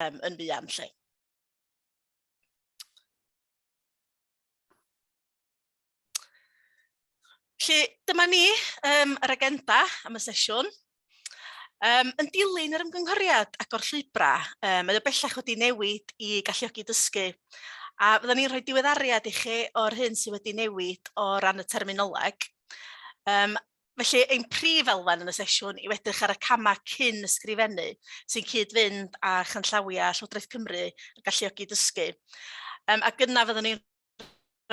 um, yn fuan lle. Felly, dyma ni um, yr agenda am y sesiwn. Um, yn dilyn yr ymgynghoriad agor llwybrau, um, mae o bellach wedi newid i galluogi dysgu. A fydden ni'n rhoi diweddariad i chi o'r hyn sydd wedi newid o ran y terminoleg. Um, Felly, ein prif elfen yn y sesiwn yw edrych ar y camau cyn ysgrifennu sy'n cyd-fynd â chanllawiau Llywodraeth Cymru a galluogi dysgu. Um, ac yna fyddwn ni'n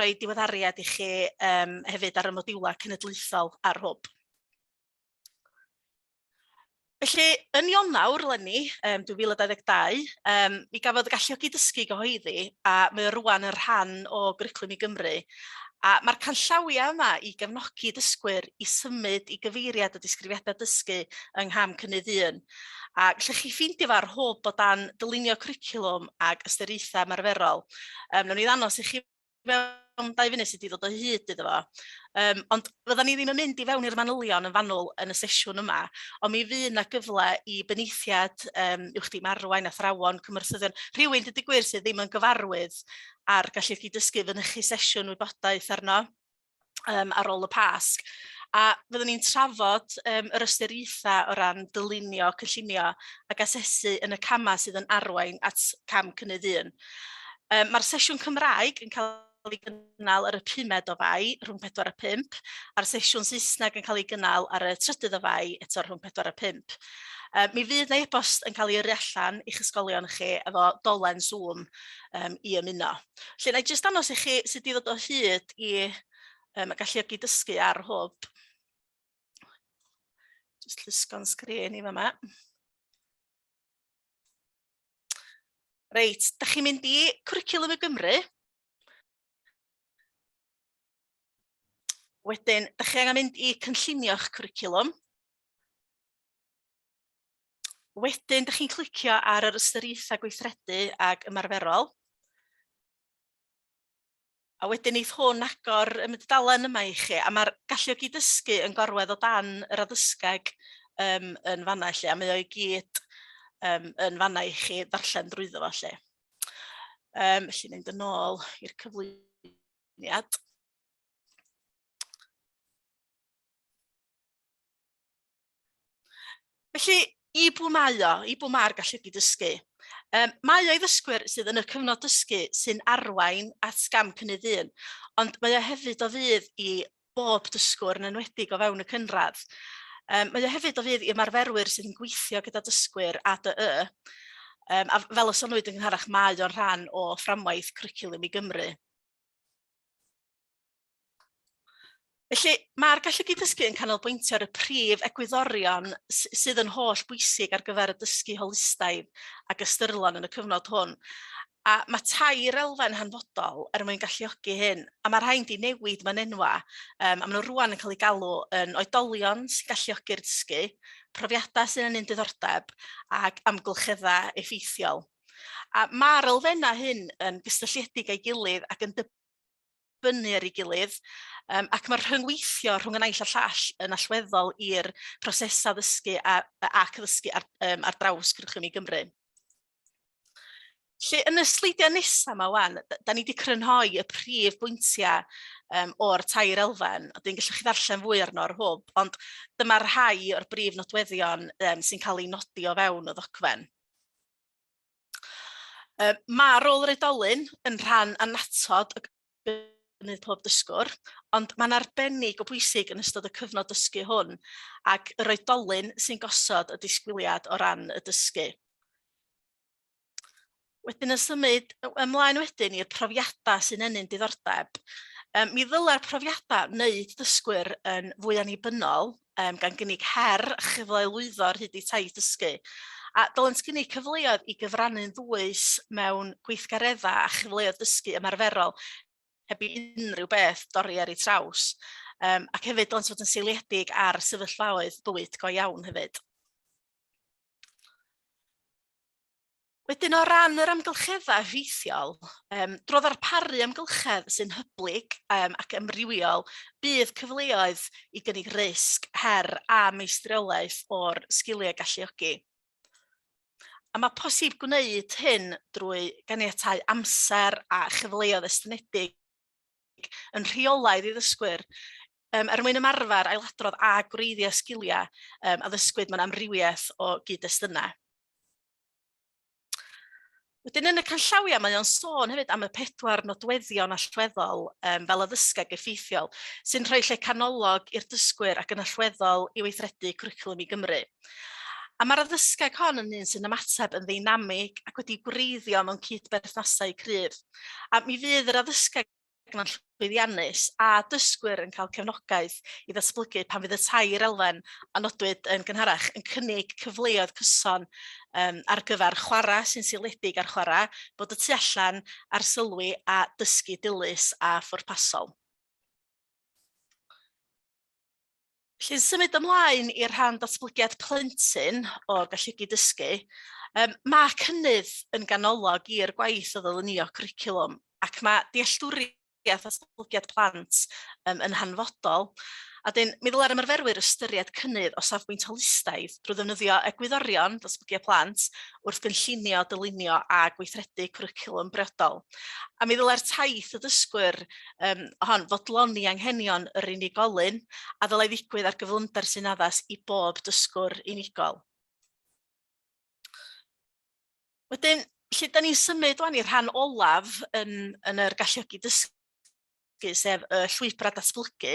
rhoi diweddariad i chi um, hefyd ar y modiwlau cenedlaethol a'r hwb. Felly, yn Ionawr lenni, um, 2022, um, mi gafodd y galluogi dysgu gyhoeddi a mae o rwan yn rhan o gwriclwm i Gymru. A mae'r canllawiau yma i gefnogi dysgwyr i symud i gyfeiriad y disgrifiadau dysgu yng ngham cynnydd un. A lle chi ffeindio fo ar hwb o dan dylunio cwricwlwm ac ystyriaethau ymarferol. Um, Nw'n ni ddanos i chi fewn dau funud sut i ddod o hyd iddo fo. Um, ond fydda ni ddim yn mynd i fewn i'r manylion yn fanwl yn y sesiwn yma, ond mi fydd yna gyfle i benaethiad um, uwch di marwain, athrawon, cymwrthyddion, rhywun dydy gwir sydd ddim yn gyfarwydd ar gallu chi dysgu fynychu sesiwn wybodaeth arno. um, ar ôl y Pasg. A fyddwn ni'n trafod um, yr ystyriaethau o ran dylunio, cynllunio ac asesu yn y camau sydd yn arwain at cam cynnydd un. Um, Mae'r sesiwn Cymraeg yn cael cael ei gynnal ar y pumed o fai rhwng 4 a 5, a'r sesiwn Saesneg yn cael ei gynnal ar y trydydd o fai eto rhwng 4 a 5. Uh, mi fydd na e-bost yn cael ei yrru allan i'ch ysgolion chi efo dolen Zoom um, i ymuno. Felly, na i jyst dangos i chi sut i ddod o hyd i um, y galluogi dysgu ar hwb. Jyst llusgo'n sgrin i fyma. Reit, da chi'n mynd i Cwricwlwm y Gymru. Wedyn, da chi angen mynd i cynllunio'ch cwricwlwm. wedyn, dych chi'n clicio ar yr ystyriaethau gweithredu ag ymarferol. A wedyn eith hwn agor y mydalen yma i chi, a mae'r galluogi dysgu yn gorwedd o dan yr addysgeg um, yn fanna i chi, a mae o'i gyd um, yn fanna i chi ddarllen drwyddo fo lle. Um, felly mynd yn ôl i'r cyflwyniad. Felly, i bw mae o, i bw mae'r galludy dysgu? Um, mae o'i ddysgwyr sydd yn y cyfnod dysgu sy'n arwain at gam cynnydd un, ond mae o hefyd o fydd i bob dysgwr yn enwedig o fewn y cynradd. Um, mae o hefyd o fydd i ymarferwyr sydd yn gweithio gyda dysgwyr ADY. Um, a fel y sonwyd yn gynharach, mae o'n rhan o fframwaith cwricwlwm i Gymru. Felly, mae'r gallu gyd-dysgu yn canolbwyntio ar y prif egwyddorion sydd yn holl bwysig ar gyfer y dysgu holistaidd ac ystyrlon yn y cyfnod hwn. A mae tair elfen hanfodol er mwyn galluogi hyn, a mae rhain di newid mae'n enwa, um, a maen nhw rwan yn cael eu galw yn oedolion sy'n galluogi'r dysgu, profiadau sy'n yn un diddordeb ac amgylcheddau effeithiol. A mae'r elfennau hyn yn gysylltiedig â'i gilydd ac yn dibynnu ar ei gilydd, um, ac mae'r rhyngweithio rhwng y naill a llall yn allweddol i'r prosesau ddysgu a, ac ddysgu ar, um, ar draws cwricwlwm i Gymru. Lle yn y sleidiau nesaf yma wan, da ni wedi crynhoi y prif bwyntiau um, o'r tair elfen, a dwi'n gallu chi ddarllen fwy arno ar hwb, ond dyma'r rhai o'r brif nodweddion um, sy'n cael ei nodi o fewn y ddogfen. Yy ma' rôl yr oedolyn yn rhan annatod y gynnydd pob dysgwr ond mae'n arbennig o bwysig yn ystod y cyfnod dysgu hwn ac yr oedolyn sy'n gosod y disgwyliad o ran y dysgu. Wedyn yn symud ymlaen wedyn i'r profiadau sy'n ennyn diddordeb. Ym, mi ddylai'r profiadau wneud dysgwyr yn fwy annibynnol um, gan gynnig her chyfle i lwyddo ar hyd eu taith dysgu. A dylent gynnig cyfleoedd i gyfrannu'n ddwys mewn gweithgareddau a chyfleoedd dysgu ymarferol heb i unrhyw beth dorri ar ei traws. Um, ac hefyd dylent fod yn seiliedig ar sefyllfaoedd bywyd go iawn hefyd. Wedyn o ran yr amgylcheddau rheithiol, um, dro ddarparu amgylchedd sy'n hyblyg um, ac ymrywiol, bydd cyfleoedd i gynnig risg, her a meistriolaeth o'r sgiliau galluogi. A mae posib gwneud hyn drwy ganiatau amser a chyfleoedd estynedig yn rheolaidd i ddysgwyr um, er mwyn ymarfer ailadrodd a gwreiddio sgiliau um, a ddysgwyd mewn amrywiaeth o gyd-destunau. Wedyn yn y canllawiau mae o'n sôn hefyd am y pedwar nodweddion allweddol um, fel addysgeg effeithiol sy'n rhoi lle canolog i'r dysgwyr ac yn allweddol i weithredu cwricwlwm i Gymru. A mae'r addysgeg hon yn un sy'n ymateb yn ddeinamig ac wedi gwreiddio mewn cyd-berthnasau cryf. A mi fydd yr addysgeg Rhaglen llwyddiannus a dysgwyr yn cael cefnogaeth i ddatblygu pan fydd y tair elfen a nodwyd yn gynharach yn cynnig cyfleoedd cyson um, ar gyfer chwarae sy'n seiliedig ar chwarae, bod y tu allan, arsylwi a dysgu dilys a phwrpasol. Felly, symud ymlaen i'r rhan datblygiad plentyn o gallugi dysgu, um, mae cynnydd yn ganolog i'r gwaith o ddylunio cwricwlwm ac mae dealltwriaeth a datblygiad plant um, yn hanfodol. A dyn, mi ddylai'r ymarferwyr ystyried cynnydd o safbwynt holistaidd drwy ddefnyddio egwyddorion datblygiad plant wrth gynllunio, dylunio a gweithredu cwricwlwm briodol. A mi ddylai'r taith y dysgwyr um, hon, fodloni anghenion yr unigolyn a ddylai ddigwydd ar gyflymder sy'n addas i bob dysgwr unigol. Wedyn, lle da ni'n symud o'n i'r rhan olaf yn, yn yr galluogi dysgu, sef y llwybrau datblygu,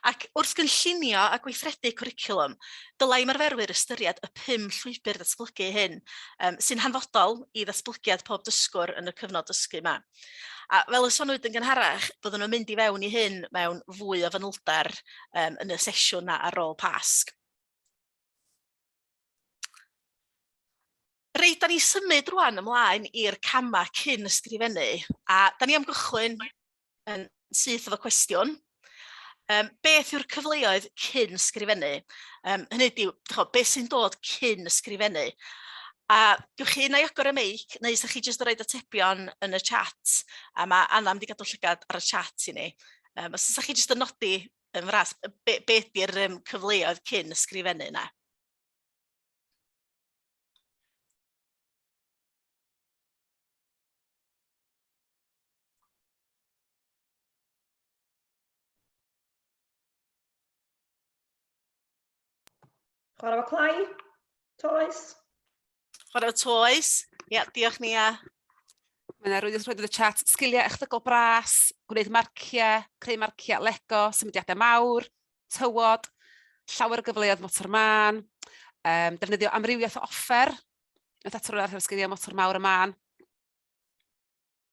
Ac wrth gynllunio a gweithredu cwricwlwm, dylai ymarferwyr ystyried y pum llwybr ddatblygu hyn, um, sy'n hanfodol i ddatblygiad pob dysgwr yn y cyfnod dysgu yma. A fel y sonwyd yn gynharach, byddwn yn mynd i fewn i hyn mewn fwy o fanylder um, yn y sesiwn na ar ôl Pasg. Reit, da ni symud rwan ymlaen i'r camau cyn ysgrifennu, a da ni am gychwyn yn syth efo cwestiwn. Um, beth yw'r cyfleoedd cyn ysgrifennu? Um, hynny yw, beth sy'n dod cyn ysgrifennu? A gewch chi na i agor y meic, neu ysgrifennu chi jyst yn rhoi atebion yn y chat, a mae Anna wedi gadw llygad ar y chat i ni. Um, os ysgrifennu chi jyst yn nodi yn fras, be, be ydy'r um, cyfleoedd cyn ysgrifennu yna? Chwarae fo clai? Toes? Chwarae fo toes? Ie, yeah, diolch ni a. Mae yna rwy'n rhoi y chat sgiliau echdygol bras, gwneud marciau, creu marciau, lego, symudiadau mawr, tywod, llawer o gyfleoedd motor mân, um, defnyddio amrywiaeth o offer, yn atwyr ar sgiliau motor mawr y mân.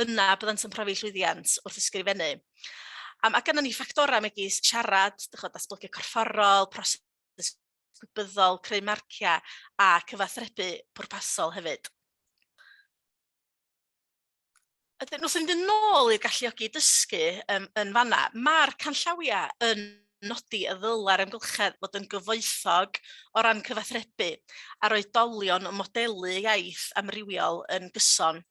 yna byddant yn profi llwyddiant wrth ysgrifennu. Um, a gynnon ni ffactorau megis siarad, dychod, datblygu corfforol, proses gwybyddol, creu marciau a cyfathrebu pwrpasol hefyd. Ydyn, wrth fynd yn ôl i'r galluogi dysgu um, yn fanna, mae'r canllawiau yn nodi y ddylai'r amgylchedd fod yn gyfoethog o ran cyfathrebu a'r oedolion yn modelu iaith amrywiol yn gyson.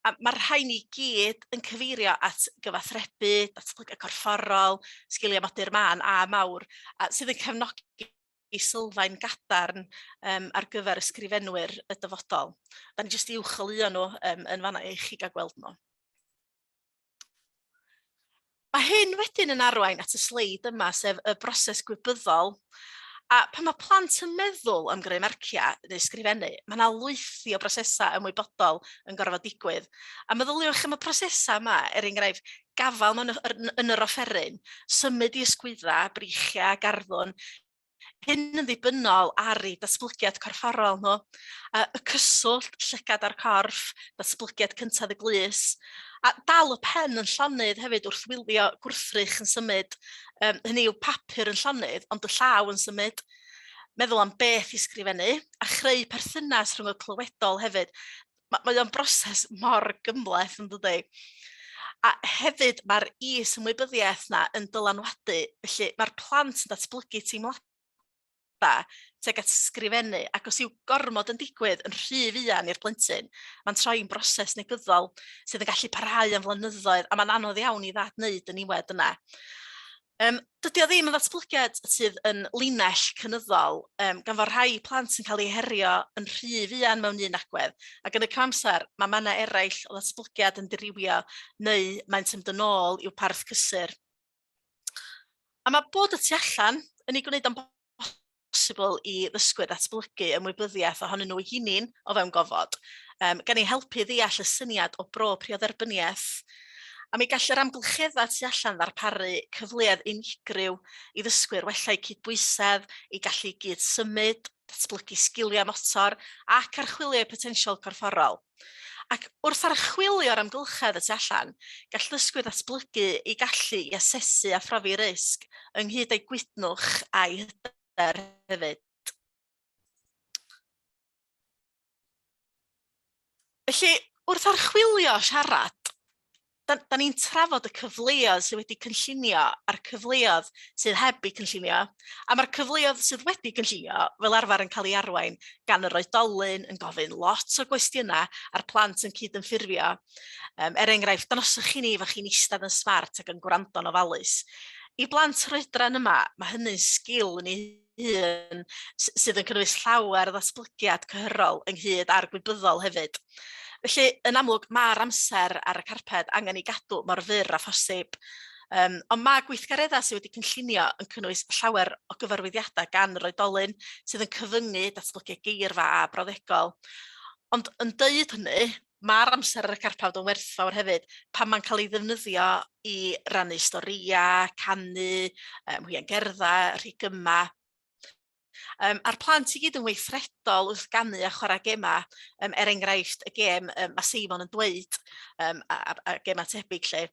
A mae'r rhain i gyd yn cyfeirio at gyfathrebu, datblygu corfforol, sgiliau modur mân a mawr, a sydd yn cefnogi i sylfaen gadarn um, ar gyfer ysgrifenwyr y dyfodol. Da ni jyst i uwcholeuo nhw um, yn fanna i chi gael gweld nhw. Mae hyn wedyn yn arwain at y sleid yma, sef y broses gwybyddol. A pan mae plant yn meddwl am greu marciau neu ysgrifennu, mae yna lwythi o brosesau ymwybodol yn gorfod digwydd. A meddyliwch am y prosesau yma, er enghraifft, gafael mewn yn yr offeryn, symud i ysgwyddau, breichiau, garddwn, hyn yn ddibynnol ar ei datblygiad corfforol nhw, a y cyswllt llygad â'r corff, datblygiad cyntaf y glus, a dal y pen yn llonydd hefyd wrth wylio gwrthrych yn symud, um, hynny yw papur yn llonydd, ond y llaw yn symud, meddwl am beth i sgrifennu, a chreu perthynas rhwng y clywedol hefyd. ma' mae o'n broses mor gymhleth yndydi? A hefyd mae'r is-ymwybyddiaeth 'na yn dylanwadu, felly mae'r plant yn datblygu teimlada tuag at sgrifennu ac os yw gormod yn digwydd yn rhy fuan i'r blentyn, mae'n troi'n broses negyddol sydd yn gallu parhau am flynyddoedd a mae'n anodd iawn i ddad wneud y niwed yna. Yym, dydy o ddim yn ddatblygiad sydd yn linell cynyddol, um, gan fod rhai plant yn cael eu herio yn rhy fuan mewn un agwedd, ac yn y cyfamser mae mannau eraill o ddatblygiad yn dirywio neu maent yn dod ôl i'w parth cysur. A mae bod y tu allan yn ei gwneud o'n bosibl i ddysgwyr ddatblygu ymwybyddiaeth ohonyn nhw eu hunain o fewn gofod, um, gan ei helpu i ddeall y syniad o bro priodderbyniaeth. A mi gall yr amgylcheddau tu allan ddarparu cyfleoedd unigryw i ddysgwyr wella eu cydbwysedd, eu gallu i gyd symud, datblygu sgiliau motor ac archwilio eu potensial corfforol. Ac wrth archwilio yr amgylchedd y tu allan, gall ddysgwyr ddatblygu eu gallu i asesu a phrofi risg, ynghyd â'u gwydnwch a'u hyder hefyd. Felly, wrth archwilio siarad, da, da ni'n trafod y cyfleoedd sydd wedi cynllunio a'r cyfleoedd sydd heb eu cynllunio, a mae'r cyfleoedd sydd wedi cynllunio fel arfer yn cael ei arwain gan yr oedolyn yn gofyn lot o gwestiynau a'r plant yn cydymffurfio. Um, er enghraifft, danosoch chi ni fod chi'n eistedd yn smart ac yn gwrando'n ofalus. I blant rhoedran yma, mae hynny'n sgil yn ei hun s- sydd yn cynnwys llawer o ddatblygiad cyhyrol ynghyd â'r gwybyddol hefyd. Felly, yn amlwg, mae'r amser ar y carped angen ei gadw mor fyr a phosib. Um, ond mae gweithgareddau sydd wedi cynllunio yn cynnwys llawer o gyfarwyddiadau gan yr oedolyn sydd yn cyfyngu datblygu geirfa a brawddegol. Ond yn dweud hynny, Mae'r amser ar y carpawd yn werthfawr hefyd pan mae'n cael ei ddefnyddio i rannu storïau, canu, um, hwian gerddau, rhigyma. Um, a'r plant i gyd yn weithredol wrth ganu a chwarae gemau, um, er enghraifft y gem um, mae Seimon yn dweud um, a, a, a gemau tebyg lle.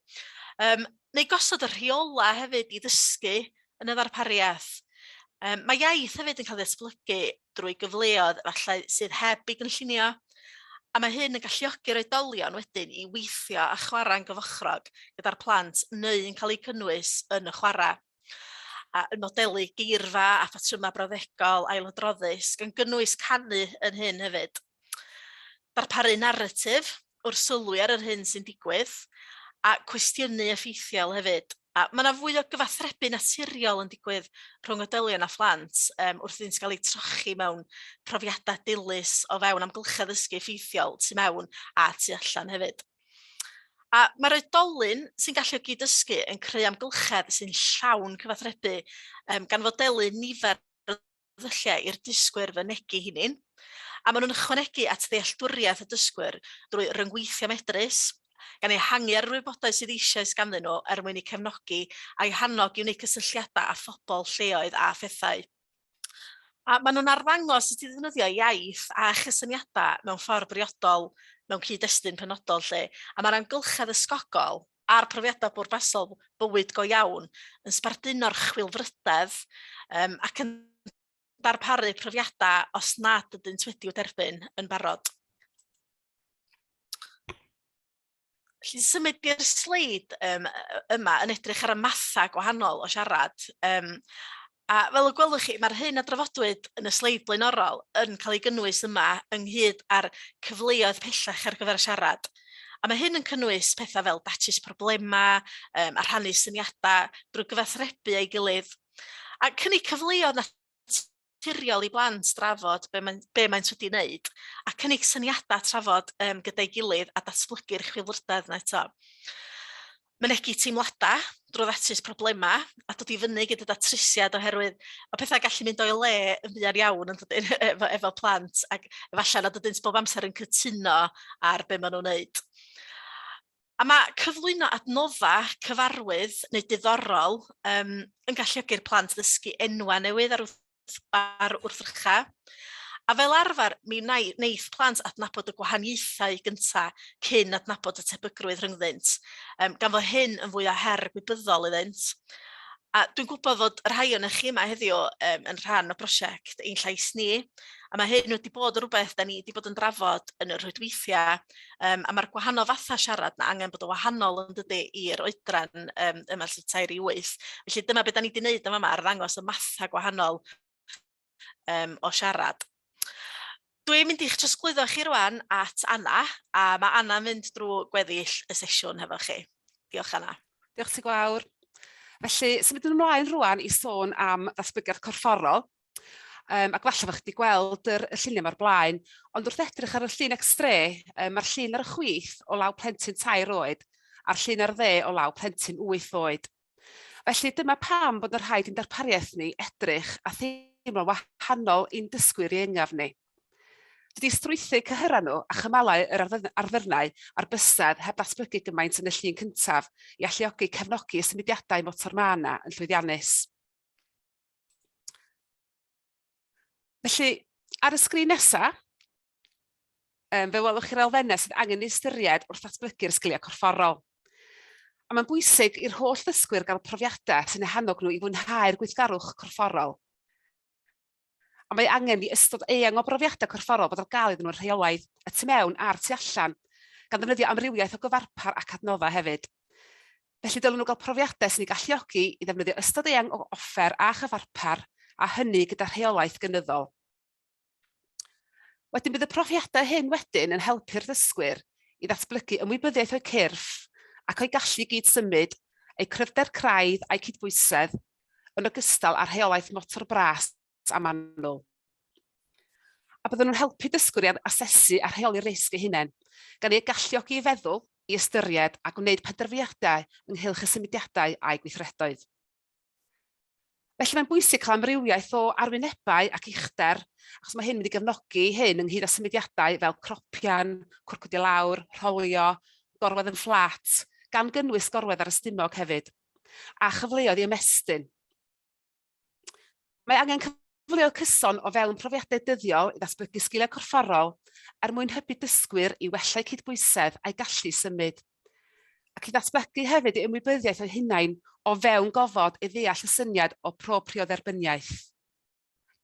Um, neu gosod y rheola hefyd i ddysgu yn y ddarpariaeth. Um, mae iaith hefyd yn cael ei esblygu drwy gyfleoedd efallai sydd heb eu gynllunio, a mae hyn yn galluogi'r oedolion wedyn i weithio a chwarae'n gyfochrog gyda'r plant neu'n cael eu cynnwys yn y chwarae a yn modelu geirfa a phatrymau brawddegol ailadroddus, gan gynnwys canu yn hyn hefyd. darparu naratif wrth sylwi ar yr hyn sy'n digwydd, a cwestiynu effeithiol hefyd. A mae yna fwy o gyfathrebu naturiol yn digwydd rhwng oedolion a phlant um, wrth iddynt gael eu trochi mewn profiadau dilys o fewn amgylchedd ysgu effeithiol tu mewn a tu allan hefyd. A mae'r oedolyn sy'n gallu o gyd-dysgu yn creu amgylchedd sy'n llawn cyfathrebu, um, gan fodelu nifer ddulliau i'r dysgwyr fynegi hynny'n, a maen nhw'n ychwanegu at ddealltwriaeth y dysgwyr drwy ryngweithio medrus, gan ehangu ar yr wybodaeth sydd eisoes ganddyn nhw er mwyn eu cefnogi a'u hannog i wneud cysylltiadau â phobl lleoedd a phethau. A maen nhw'n arddangos sut i ddefnyddio iaith a chysyniadau mewn ffordd briodol mewn cyd-destun penodol lle, a mae'r amgylchedd ysgogol a'r profiadau bwrpasol bywyd go iawn yn sbarduno'r chwilfrydedd um, ac yn darparu profiadau os nad ydynt wedi'u derbyn yn barod. Felly symud i'r sleid um, yma yn edrych ar y mathau gwahanol o siarad. Um, A fel y gwelwch chi, mae'r hyn a drafodwyd yn y sleid blaenorol yn cael ei gynnwys yma ynghyd â'r cyfleoedd pellach ar gyfer y siarad. A mae hyn yn cynnwys pethau fel datrys problemau um, a rhannu syniadau drwy gyfathrebu ei gilydd. A cynnig cyfleoedd naturiol i blant drafod be, mae, be maent wedi wneud a cynnig syniadau trafod um, gyda'i gilydd a datblygu'r chwilfrydedd yna eto. mynegi teimladau drwy ddatrys problemau a dod i fyny gyda datrysiad oherwydd mae pethau'n gallu mynd o'i le yn fuan iawn yn dydyn, efo, efo plant ac efallai nad ydynt bob amser yn cytuno ar be maen nhw'n wneud. A mae cyflwyno adnodda cyfarwydd neu diddorol um, yn galluogi'r plant ddysgu enwau newydd ar ar wrthrychau, a fel arfer mi wnaeth wneith plant adnabod y gwahaniaethau gyntaf cyn adnabod y tebygrwydd rhyngddynt, um, gan fod hyn yn fwy o her gwybyddol iddynt. A dwi'n gwybod fod y rhai o'n eich chi yma heddiw um, yn rhan o brosiect Ein Llais Ni, a mae hyn wedi bod yn rhywbeth da ni wedi bod yn drafod yn y rhwydweithiau Um, a mae'r gwahanol fathau siarad na angen bod o wahanol yn dydy i'r oedran um, yma lle tair i wyth. Felly dyma beth da ni wedi gwneud yma yma, arddangos y mathau gwahanol um, o siarad. Dwi'n mynd i'ch trosglwyddo chi rwan at Anna, a mae Anna yn mynd drwy gweddill y sesiwn hefo chi. Diolch Anna. Diolch ti gwawr. Felly, symudwn ymlaen rwan i sôn am ddatblygiad corfforol. Yym, ac falle bod chi wedi gweld yr y lluniau 'ma o'r blaen, ond wrth edrych ar y llun extre, yy ma'r llun ar y chwith o law plentyn tair oed, a'r llun ar dde o law plentyn wyth oed. Felly dyma pam bod yn rhaid i'n darpariaeth ni edrych a theimlo'n wahanol i'n dysgwyr ieuengaf ni. Dydy strwythur cyhyrau nhw a chymalau yr arddyrnau a'r bysedd heb ddatblygu gymaint yn y llun cyntaf i alluogi cefnogi y symudiadau motor mân yna yn llwyddiannus. Felly, ar y sgrin nesaf, um, fe welwch chi'r elfennau sydd angen ei ystyried wrth ddatblygu'r sgiliau corfforol. A mae'n bwysig i'r holl ddysgwyr gael profiadau sy'n ehannog nhw i fwynhau'r gweithgarwch corfforol. A mae angen i ystod eang o brofiadau corfforol bod ar gael iddyn nhw'n rheolaidd, y tu mewn a'r tu allan, gan ddefnyddio amrywiaeth o gyfarpar ac adnoddau hefyd. Felly dylen nhw gael profiadau sy'n eu galluogi i ddefnyddio ystod eang o offer a chyfarpar, a hynny gyda rheolaeth gynyddol. Wedyn bydd y profiadau hyn wedyn yn helpu'r ddysgwyr i ddatblygu ymwybyddiaeth o'u cyrff ac o'u gallu gyd-symud, eu cryfder craidd a'u cydbwysedd, yn ogystal â rheolaeth motor bras gant a manwl, a byddwn yn helpu dysgwyr i asesu a rheoli risg eu hunain, gan eu galluogi i feddwl, i ystyried a gwneud penderfyniadau ynghylch y symudiadau a'u gweithredoedd. Felly mae'n bwysig cael amrywiaeth o arwynebau ac uchder, achos mae hyn wedi gefnogi hyn ynghyd â symudiadau fel cropian, cwrcwdio lawr, rholio, gorwedd yn fflat, gan gynnwys gorwedd ar y stumog hefyd, a chyfleoedd i ymestyn. Mae angen cyfleoedd cyson o fewn profiadau dyddiol i ddatblygu sgiliau corfforol er mwyn hybu dysgwyr i wella eu cydbwysedd a'u gallu i symud, ac i ddatblygu hefyd eu ymwybyddiaeth eu hunain o fewn gofod i ddeall y syniad o propriodderbyniaeth.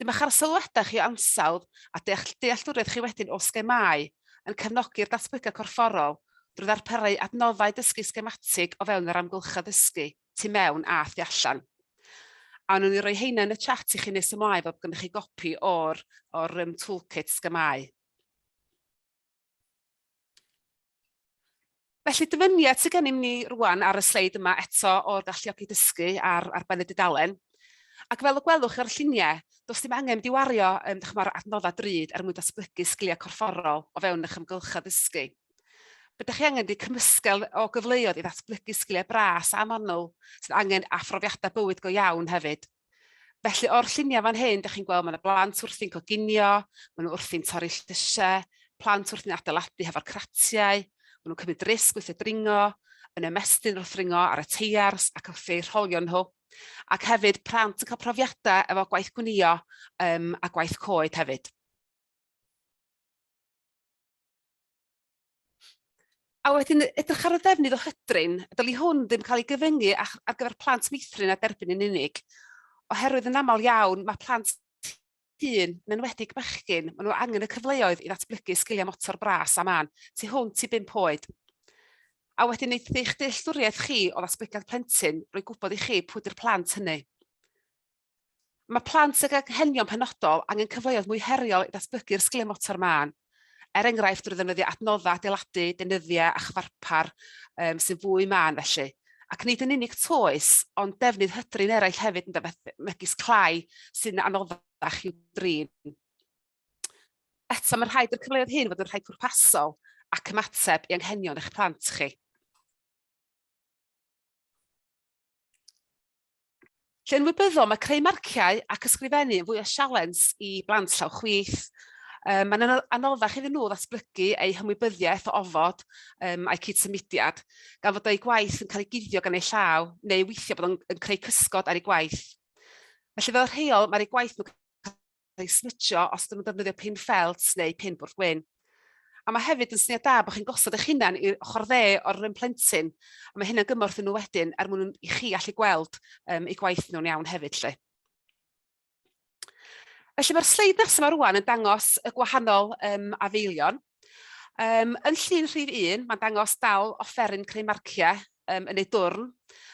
Dyma'ch arsylwadau chi o ansawdd a dealltwriaeth chi wedyn o sgemâu yn cefnogi'r datblygiad corfforol drwy ddarparu adnoddau dysgu sgematig o fewn yr amgylchedd ddysgu. tu mewn a thu allan. A nhw'n i roi heina yn y chat i chi nes ymlaen fel bod gennych chi gopi o'r, or um, toolkit sgamau. Felly dyfyniad sydd gennym ni rwan ar y sleid yma eto o'r galluogi dysgu ar, ar ben y dudalen. Ac fel y gwelwch o'r lluniau, does dim angen di wario um, adnoddau drud er mwyn datblygu sgiliau corfforol o fewn eich ymgylchedd ddysgu. Be da chi angen ydy cymysgedd o gyfleoedd i ddatblygu sgiliau bras a manwl sydd angen a phrofiadau bywyd go iawn hefyd. Felly o'r lluniau fan hyn, da chi'n gweld mae yna blant wrthi'n coginio, maen nhw wrthi'n torri llysiau, plant wrthi'n adeiladu hefo'r cratiau, maen nhw'n cymryd risg wrth y dringo, yn ymestyn wrth ringo ar y teiars ac wrth eu rholio nhw. Ac hefyd, plant yn cael profiadau efo gwaith gwnio um, a gwaith coed hefyd. A wedyn edrych ar y ddefnydd o hydrin, dyli hwn ddim cael ei gyfyngu ar gyfer plant meithrin a derbyn yn unig, oherwydd yn aml iawn mae plant hŷn, yn enwedig bechgyn, maen nhw angen y cyfleoedd i ddatblygu sgiliau motor bras a mân tu hwnt i bum oed. A wedyn wneud eich dealltwriaeth chi o ddatblygiad plentyn, roi gwybod i chi pwy ydy'r plant hynny. Mae plant ag anghenion penodol angen cyfleoedd mwy heriol i ddatblygu'r sgiliau motor mân, er enghraifft drwy ddefnyddio adnoddau adeiladu, deunyddiau a chyfarpar um, sy'n fwy mân felly. Ac nid yn unig toes, ond defnydd hydrin eraill hefyd yn dyfethu, megis clai sy'n anoddach i'w drin. Eto, mae'n rhaid i'r cyfleoedd hyn fod yn rhai pwrpasol ac ymateb i anghenion eich plant chi. Lle yn wybyddol, mae creu marciau ac ysgrifennu yn fwy o sialens i blant llaw chwith. Um, mae'n anoddach iddyn nhw ddatblygu eu hymwybyddiaeth o ofod um, a'i cyd-symudiad, gan fod eu gwaith yn cael ei guddio gan eu llaw, neu weithio bod yn, yn creu cysgod ar ei gwaith. Felly fel rheol, mae'r ei gwaith nhw'n eu snitio os ydyn nhw'n defnyddio pin ffelt neu pin bwrdd gwyn. A mae hefyd yn syniad da bod chi'n gosod eich hunan i'r ochr dde o'r run plentyn, a mae hynna'n gymorth i nhw wedyn er mwyn i chi allu gweld um, eu gwaith nhw'n iawn hefyd lle. Felly mae'r sleid nesaf yma rwan yn dangos y gwahanol um, afeilion. Um, yn llun rhif 1, mae'n dangos dal offeryn creu marciau um, yn ei dwrn,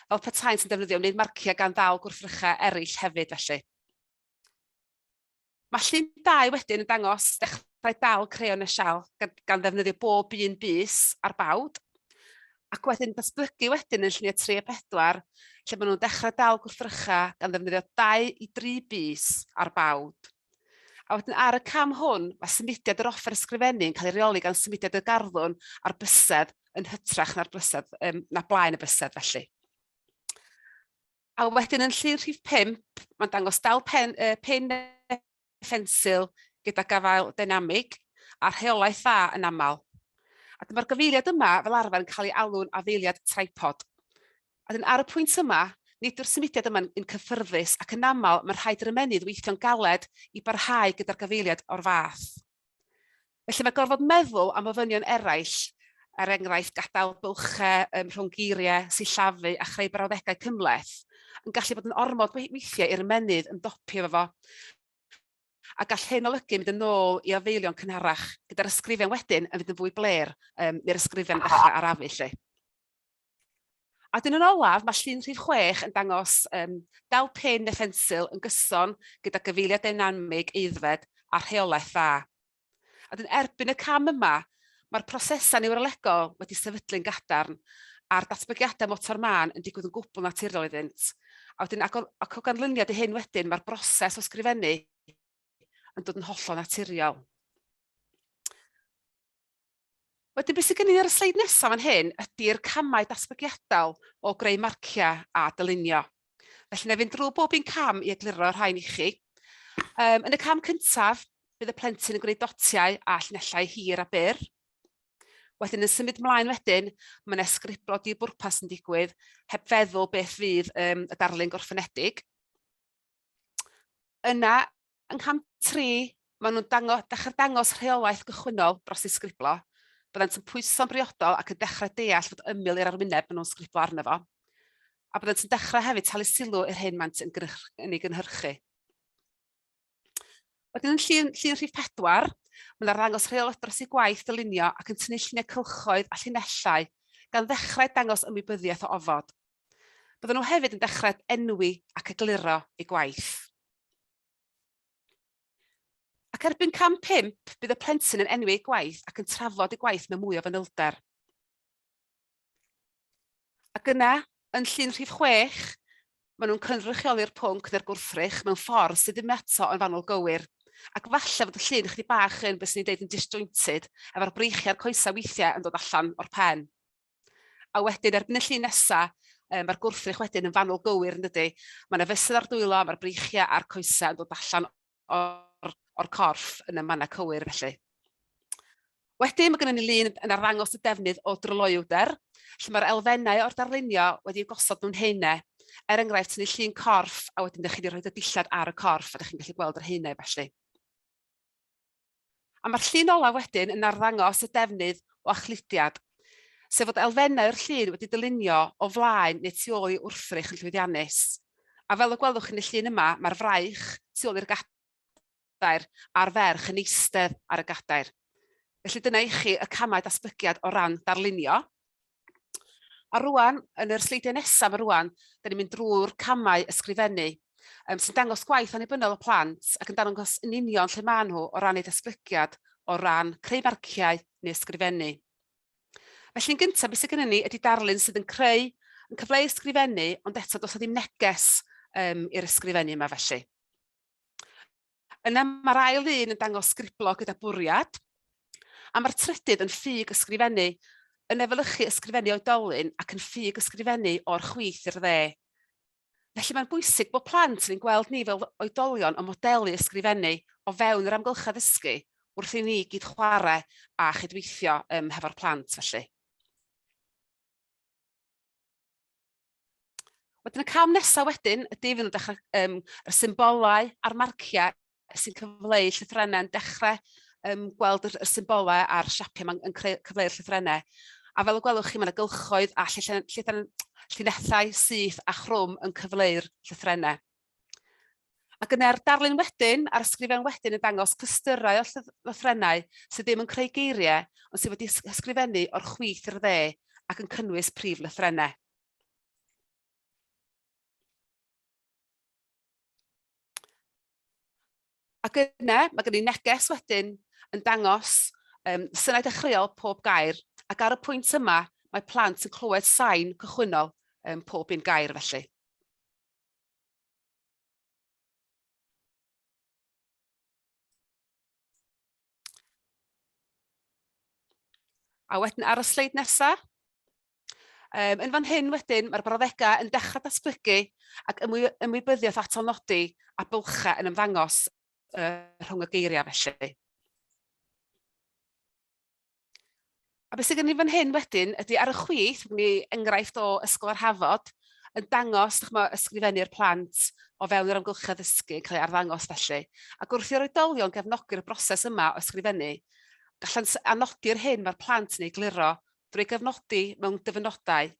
fel petaen sy'n defnyddio wneud marciau gan ddal gwrthrychau eraill hefyd felly. Mae llun dau wedyn yn dangos dechrau dal creon y sial gan, gan ddefnyddio bob un bus ar bawd, ac wedyn datblygu wedyn yn lluniau 3 a 4, lle maen nhw'n dechrau dal gwrthrycha gan ddefnyddio 2 i 3 bus ar bawd. A wedyn ar y cam hwn, mae symudiad yr offer ysgrifennu yn cael ei reoli gan symudiad y garddwn a'r bysedd yn hytrach na'r bysedd, um, na blaen y bysedd felly. A wedyn yn llun rhif pump, mae'n dangos dal pen yy pin a phensil gyda gafael deinamig a rheolaeth dda yn aml. A dyma'r gyfeiriad yma fel arfer yn cael ei alw'n afeiliad tripod. A wedyn ar y pwynt yma, nid yw'r symudiad yma'n un cyffyrddus ac yn aml mae'n rhaid i'r ymennydd weithio'n galed i barhau gyda'r gyfeiriad o'r fath. Felly mae gorfod meddwl am ofynion eraill, er enghraifft gadael bylchau um, rhwng geiriau, sillafu a chreu brawddegau cymleth, yn gallu bod yn ormod weithiau i'r ymenydd ymdopi efo fo. A gall hyn olygu mynd yn ôl i ofeilion cynharach, gyda'r ysgrifen wedyn yn fynd yn fwy blêr, um, neu'r ysgrifen yn dechrau arafu lle. A wedyn yn olaf, mae llun rhif chwech yn dangos yym dal pin neu phensil yn gyson gyda gyfeiliad deinamig aeddfed a rheolaeth dda. A wedyn erbyn y cam yma, mae'r prosesau niwrolegol wedi sefydlu'n gadarn a'r datblygiadau motor mân yn digwydd yn gwbl naturiol iddynt. A wedyn ac o, ac o ganlyniad i hyn wedyn, mae'r broses o sgrifennu yn dod yn hollol naturiol. Wedyn be sydd gennym ni ar y sleid nesaf fan hyn ydy'r camau datblygiadol o greu marciau a dylunio. Felly wna i fynd drwy bob un cam i egluro'r rhain i chi. Um, yn y cam cyntaf, bydd y plentyn yn gwneud dotiau a llinellau hir a byr. Wedyn yn symud mlaen wedyn, mae yna sgriblo di bwrpas yn digwydd heb feddwl beth fydd um, y darlun gorffenedig. Yna, Yng cam tri, maen nhw'n dango- dechrau dangos rheolaeth gychwynnol dros ddisgriblo, byddant yn pwyso'n briodol ac yn dechrau deall fod ymyl i'r arwyneb maen nhw'n sgriblo arno fo, a byddant yn dechrau hefyd talu sylw i'r hyn maent yn yn ei gynhyrchu. Wedyn yn llun, llun rhif pedwar, mae'n arddangos rheolaeth dros ei gwaith dylunio ac yn tynnu lluniau cylchoedd a llinellau, gan ddechrau dangos ymwybyddiaeth o ofod. Byddwn nhw hefyd yn dechrau enwi ac egluro ei gwaith. Ac erbyn cam 5, bydd y plentyn yn enwi ei gwaith ac yn trafod ei gwaith mewn mwy o fanylder. Ac yna, yn llun rhif 6, maen nhw'n cynrychioli'r pwnc neu'r gwrthrych mewn ffordd sydd ddim eto yn fanwl gywir. Ac falle fod y llun chdi bach yn beth sy'n ei dweud yn disjointed, efo'r breichiau'r coesau weithiau yn dod allan o'r pen. A wedyn erbyn y llun nesa, yy ma'r gwrthrych wedyn yn fanwl gywir yndydi? Ma' 'na fesul ar dwylo, ma'r breichia' a'r coesa' yn dod allan o'r o'r corff yn y manna' cywir felly. Wedyn ma' gynnon ni lun yn arddangos y defnydd o dryloywder, lle ma'r elfennau o'r darlunio wedi eu gosod mewn haenau, er enghraifft tynnu llun corff a wedyn 'dych chi 'di rhoid y dillad ar y corff a 'dych chi'n gallu gweld yr haenau felly. A mae'r llun olaf wedyn yn arddangos y defnydd o achludiad, sef fod elfennau'r llun wedi dylunio o flaen neu tu ôl i wrthrych yn llwyddiannus. A fel y gwelwch chi yn y llun yma, mae'r fraich tu ôl i'r gadair a'r ferch yn eistedd ar y gadair. Felly dyna i chi y camau datblygiad o ran darlunio. A rwan, yn yr sleidiau nesaf yma rwan, da ni'n mynd drwy'r camau ysgrifennu, um, sy'n dangos gwaith annibynnol y plant ac yn dangos yn union lle maen nhw o ran eu datblygiad, o ran creu marciau neu ysgrifennu. Felly yn gyntaf, beth sydd gennym ni ydy darlun sydd yn creu yn cyfleu ysgrifennu, ond eto does ddim neges um, i'r ysgrifennu yma felly. Yna mae'r ail ddyn yn dangos sgriblo gyda bwriad, a mae'r trydydd yn ffug ysgrifennu, yn efelychu ysgrifennu oedolyn ac yn ffug ysgrifennu o'r chwith i'r dde. Felly mae'n bwysig bod plant yn ein gweld ni fel oedolion yn modelu ysgrifennu o fewn yr amgylchedd ddysgu wrth i ni gyd chwarae a chydweithio um, hefo'r plant felly. Wedyn y cam nesaf wedyn ydy fydd yn dechrau um, y symbolau a'r marciau sy'n cyfleu llythrennau'n dechrau um, gweld y, y symbolau a'r siapiau mae'n creu cyfleu'r llythrennau. A fel y gwelwch chi, mae'n gylchoedd a llinellau syth a chrwm yn cyfleu'r llythrennau. Ac yna'r darlun wedyn, a'r ysgrifen wedyn yn dangos clystyrau o lythrennau sydd ddim yn creu geiriau, ond sydd wedi ysgrifennu o'r chwith i'r dde ac yn cynnwys prif lythrennau. Ac yna, mae gen i neges wedyn yn dangos um, synau dechreuol pob gair, ac ar y pwynt yma, mae plant yn clywed sain cychwynnol um, pob un gair felly. A wedyn ar y sleid nesa, yym yn fan hyn wedyn mae'r brawddegau yn dechrau datblygu ac ymwy- ymwybyddiaeth atal nodi a bylchau yn ymddangos yy rhwng y geiriau felly. A beth sydd gen i fan hyn wedyn ydy ar y chwith, mi enghraifft o Ysgol yr Hafod, yn dangos dychmyg, ysgrifennu'r plant o fewn yr amgylchedd ddysgu yn cael ei arddangos felly. Ac wrth i'r oedolion gefnogi'r broses yma o ysgrifennu, gallant anogi'r hyn mae'r plant yn ei gluro drwy gefnodi mewn dyfynodau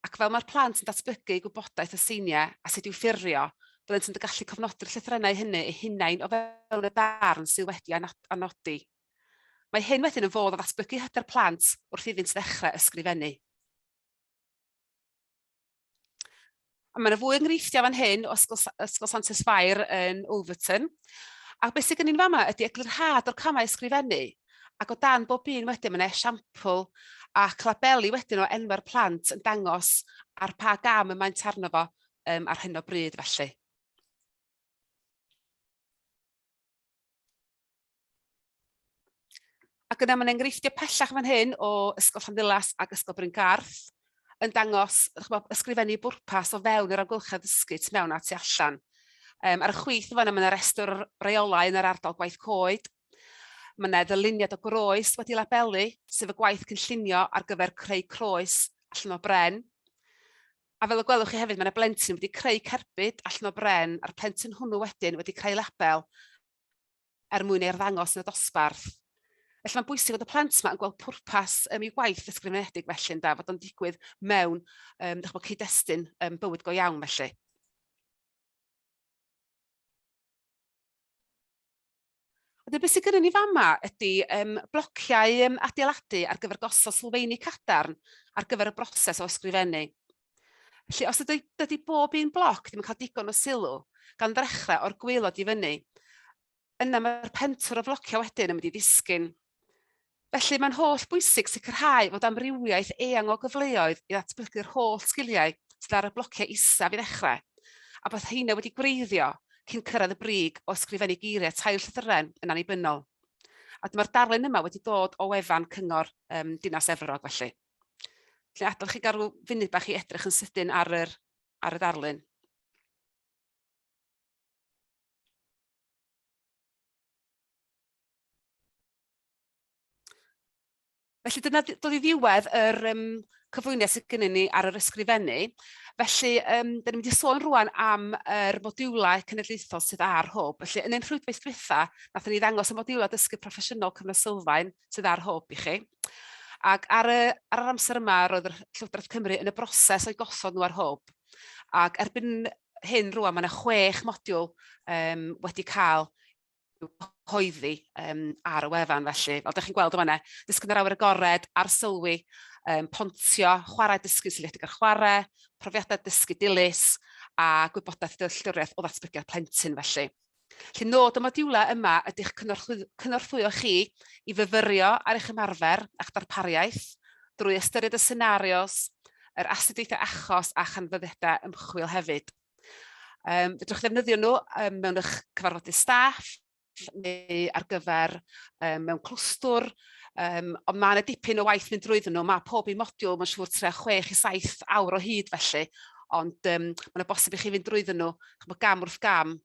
ac fel mae'r plant yn datblygu gwybodaeth y seiniau a sut i'w ffurfio, byddant yn gallu cofnodi'r llythrennau hynny eu hunain o fewn y darn sydd wedi anodi. Mae hyn wedyn yn fodd o ddatblygu hyder plant wrth iddynt ddechrau ysgrifennu. A mae yna fwy o enghreifftiau fan hyn o Ysgol, Ysgol Santes Fair yn Overton. A beth sy'n gynnu'n fama ydy eglurhad o'r camau ysgrifennu, ac o dan bob un wedyn mae'n esiampl a labeli wedyn o enwau'r plant yn dangos ar pa gam y maent arno fo um, ar hyn o bryd felly. Ac yna mae'n enghreifftiau pellach fan hyn o Ysgol Llanddulas ac Ysgol Bryn Garth yn dangos chybod, ysgrifennu bwrpas o fewn yr amgylchedd ysgu tu mewn a tu allan. Um, ar y chwith fan yna mae yna restr reolau yn yr ardal gwaith coed. Mae yna ddyluniad o groes wedi labelu, sef y gwaith cynllunio ar gyfer creu croes allan o bren. A fel y gwelwch chi hefyd, mae yna blentyn wedi creu cerbyd allan o bren, a'r plentyn hwnnw wedyn wedi creu label er mwyn ei arddangos yn y dosbarth. Felly mae'n bwysig fod y plant yma yn gweld pwrpas um, i'w gwaith ysgrifenedig felly yn da, fod o'n digwydd mewn um, bod, cyd-destun um, bywyd go iawn felly. A dyna beth sydd gyda ni fama ydy um, blociau um, adeiladu ar gyfer gosod sylfeini cadarn ar gyfer y broses o ysgrifennu. Felly, os ydy, dydy bob un bloc ddim yn cael digon o sylw, gan ddechrau o'r gweilod i fyny, yna mae'r pentwr o flociau wedyn yn mynd i ddisgyn. Felly, mae'n holl bwysig sicrhau fod amrywiaeth eang o gyfleoedd i ddatblygu'r holl sgiliau sydd ar y blociau isaf i ddechrau, a bod heina wedi gwreiddio cyn cyrraedd y brig o ysgrifennu geiriau tair llythyren yn annibynnol. A dyma'r darlun yma wedi dod o wefan Cyngor um, Dinas Efrog felly. Lle adael chi gael rhyw funud bach i edrych yn sydyn ar yr, ar y darlun. Felly dyna dod i ddiwedd yr um, cyflwyniad sydd gennym ni ar yr ysgrifennu. Felly, um, dyn ni'n mynd i sôn rwan am yr er modiwlau cenedlaethol sydd ar hwb. Felly, yn ein rhwydwaith dwytha, nath ni ddangos y modiwlau dysgu proffesiynol cyfnod sylfaen, sydd ar hwb i chi. Ac ar y ar yr amser yma roedd yr Llywodraeth Cymru yn y broses o'i gosod nhw ar hwb ac erbyn hyn rŵan mae 'na chwech modiwl yym wedi cael i'w cyhoeddi yym ar y wefan felly. Fel dach chi'n gweld yn fan 'na, dysgu yn yr awyr agored, arsylwi, yym pontio, chwarae dysgu seiliedig ar chwarae, profiadau dysgu dilys a gwybodaeth dealltwriaeth o ddatblygiad plentyn felly. Felly, nod y modiwlau yma ydy'ch cynorthwyo chi i fyfyrio ar eich ymarfer a'ch darpariaeth drwy ystyried y senarios, yr astudiaethau achos a chanfyddiadau ymchwil hefyd. Um, fedrwch ddefnyddio nhw um, mewn eich cyfarfodydd staff neu ar gyfer um, mewn clwstwr, um, ond mae yna dipyn o waith mynd drwyddyn nhw. Mae pob un modiwl, mae'n siŵr, tre 6 i 7 awr o hyd felly, ond um, mae'n bosib i chi fynd drwyddyn nhw chymod, gam wrth gam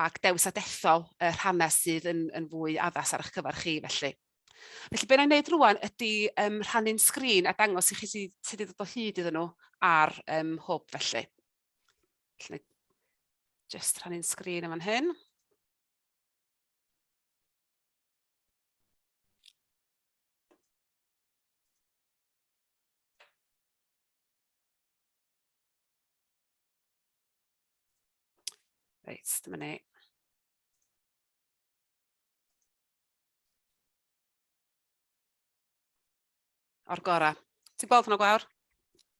ac dewis a dethol y rhannau sydd yn yn fwy addas ar eich cyfer chi felly. Felly be' 'na' i wneud rŵan ydy yym rhannu'n sgrin a dangos i chi sy sut i ddod o hyd iddyn nhw ar yym hwb felly. Felly jyst rhannu'n sgrin yn fan hyn. Reit, dyma ni. O'r gorau. Ti'n gweld hwnna gwawr?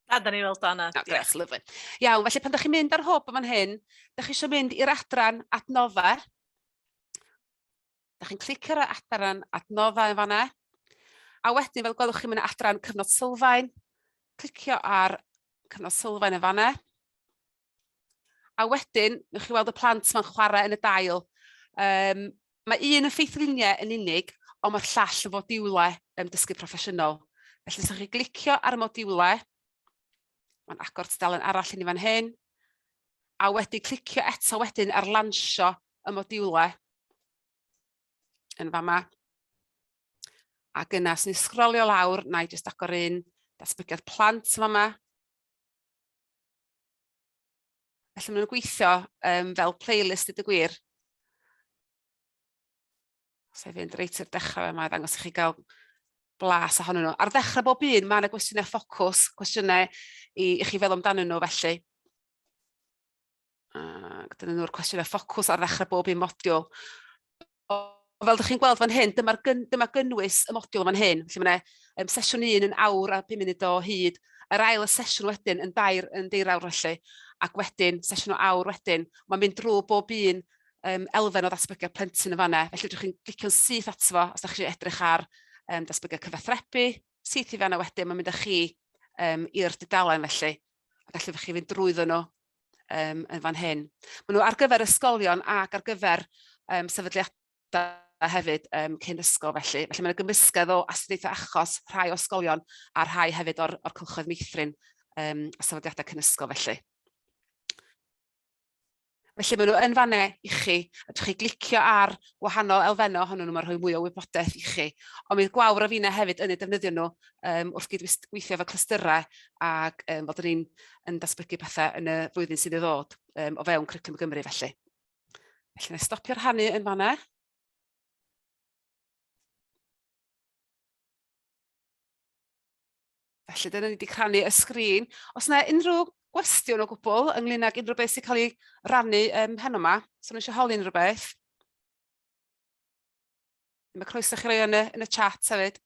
A, da ni weld o, Anna. No, grech, yeah. lyflu. Iawn, felly pan da chi'n mynd ar hwb yma'n hyn, da chi eisiau mynd i'r adran adnodda. Da chi'n clicio ar adran adnodda yn fanna. A wedyn, fel gwelwch chi'n mynd adran cyfnod sylfaen, clicio ar cyfnod sylfaen yn fanna. A wedyn, newch chi weld y plant ma'n chwarae yn y dail. Um, mae un yn ffeithluniau yn unig, ond mae'r llall yn fodiwlau um, dysgu proffesiynol. Felly, os chi glicio ar y modiwlau, mae'n agor tudalen arall i ni fan hyn, a wedi clicio eto wedyn ar lansio y modiwlau yn fama. A gyna, sy'n ni sgrolio lawr, na i jyst agor un datblygiad plant yn fama. Felly maen nhw'n gweithio um, fel playlist i dy gwir. Os ei fynd reit i'r dechrau yma, ddangos i chi gael blas ohonyn nhw. Ar ddechrau bob un, mae yna gwestiynau ffocws, cwestiynau i, i chi fel amdanyn nhw felly. Ac dyna nhw'r cwestiynau ffocws ar ddechrau bob un modiwl. Ond fel dych chi'n gweld fan hyn, dyma'r gyn, dyma gynnwys y modiwl fan hyn, lle mae yna um, sesiwn un yn awr a 5 munud o hyd, yr ail y sesiwn wedyn yn dair yn deirawr felly, ac wedyn sesiwn o awr wedyn, mae'n mynd drwy bob un um, elfen o ddatblygiad plentyn yn fanna. Felly ydych chi'n glicio'n syth ato fo os ydych chi'n edrych ar um, datblygiad cyfathrebu, syth i fanna wedyn, mae'n mynd â chi um, i'r dudalen felly, a gallwch chi fynd drwyddo nhw um, yn fan hyn. Maen nhw ar gyfer ysgolion ac ar gyfer um, sefydliadau hefyd um, cyn ysgol felly. Felly mae'n gymysgedd o astudiaethau achos rhai o ysgolion a rhai hefyd o'r, or cylchoedd meithrin um, a sefydliadau cyn ysgol felly. Felly maen nhw yn fanne i chi, a chi glicio ar wahanol elfennau ohonyn nhw, mae'n rhoi mwy o wybodaeth i chi. Ond mi gwawr o fina hefyd yn eu defnyddio nhw yym wrth gydweithio efo clystyrau ac yym fod yr un yn datblygu pethau yn y flwyddyn sydd i ddod yym o fewn Cwricwlwm Gymru felly. Felly, wna i stopio rhannu yn fanna. Felly, dyna ni wedi crannu y sgrin. Os yna unrhyw gwestiwn o gwbl ynglyn ag unrhyw beth sy'n cael ei rannu um, heno yma, os yna eisiau holi unrhyw beth, mae croeso chi roi yn y, yn y chat hefyd.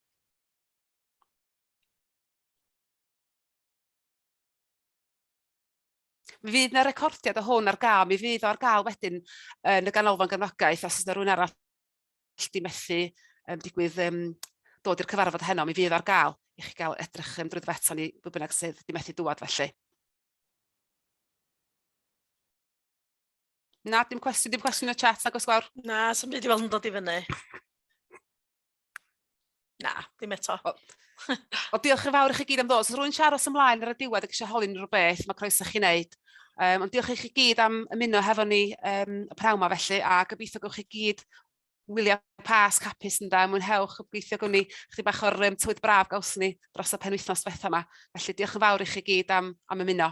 Mi fydd yna recordiad o hwn ar gael, mi fydd o ar gael wedyn yn y ganolfan gefnogaeth, os yna rhywun arall di methu um, digwydd um, dod i'r cyfarfod heno, mi fydd ar gael i chi gael edrych um, drwy ddfeto ni bwy bynnag sydd di methu dŵad felly. Na, dim cwestiwn, dim cwestiwn y chat, nag os gwawr? Na, sy'n byd i weld yn dod i fyny. Na, ddim eto. O, o diolch yn fawr i chi gyd am ddod. Os rwy'n siarad os ymlaen ar y diwedd ac eisiau holi unrhyw beth, mae croeso chi wneud. Um, ond diolch i chi gyd am ymuno hefo ni um, y prawn ma felly, a gobeithio gwch chi gyd wylio pas capus yn da, mwynhewch, gobeithio gwni chdi bach o'r um, tywyd braf gaws ni dros y penwythnos fetha yma. Felly diolch yn fawr i chi gyd am, am ymuno.